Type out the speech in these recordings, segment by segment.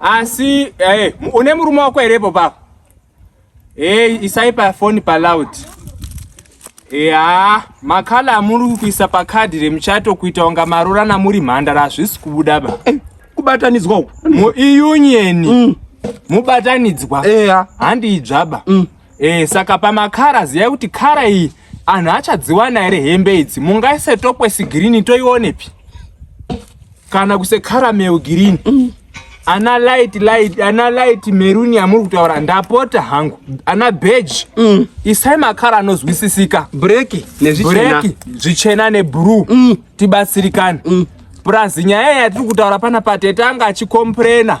Asi eh, une murume wako here ipo papo? Eh, isai pa phone pa loud. Eh, ah, makala amuri kuisa pa card remuchato kuita unga marora na muri mhandara hazvisi kubuda ba. Eh, kubatanidzwa uko. Mu union. Mm. Mubatanidzwa. Eh, ah. handi idzvaba. Mm. Eh, saka pamakara ziyai kuti kara iyi anhu achadziwana here hembe idzi mungaise tokwesi girini toionepi kana kuse karameu girini mm. ana light light ana light meruni yamuri kutaura ndapota hangu ana beji mm. isai makara anozwisisika breki breki zvichena nebrue mm. tibatsirikane mm. plus nyaya yatiri kutaura pana patete anga achikomprena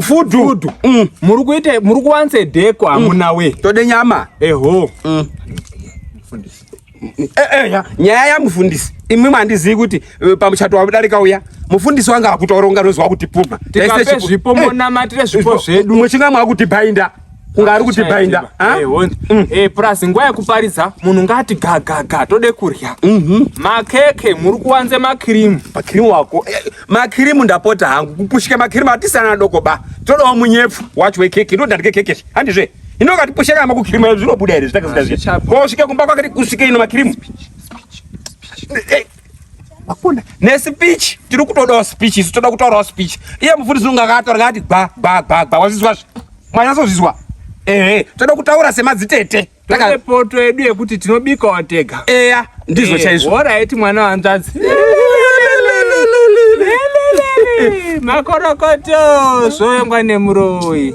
fudu mm. muri kuita muri kuwanze deko mm. amuna we tode nyama eho mm. eh, eh, nyaya yamufundisi imwe mandizivi kuti eh, pamuchato wamudarika uya mufundisi wange akutoronga nozwa kuti puma zvipo monamatire zvipo zvedu muchinga mwakuti bhainda kunga ari kuti bhainda plus nguva yekuparidza munhu ngati gagaga tode kurya mhm. makeke muri kuwanze makirimu makirimu wako Makirimu ndapota hangu kupushika makirimu atisi ana adoko ba. Todawo munyepfu wacho wekeke ndodandike keke izvi. Handizve? Hino ukati pushika kama kukirimu izvi zvinobuda here zvitakazita zviya. Hazvichabuda. Ko usvike kumba kwake kusvike ino makirimu. Eh, Hakuna. Ne speech tiri kutodawo speech isu toda kutaurawo speech. Iye mufundisi unonga akataura ngati gba gba gba gba wazvizwa zve. Mwanyazozvizwa. Ehe, toda kutaura semadzitete. Taka- poto yedu yekuti tinobikawo tega eya ndizvo Eh, chaizvo horaiti mwana wanzvadzi makorokoto zvoyongwa nemuroyi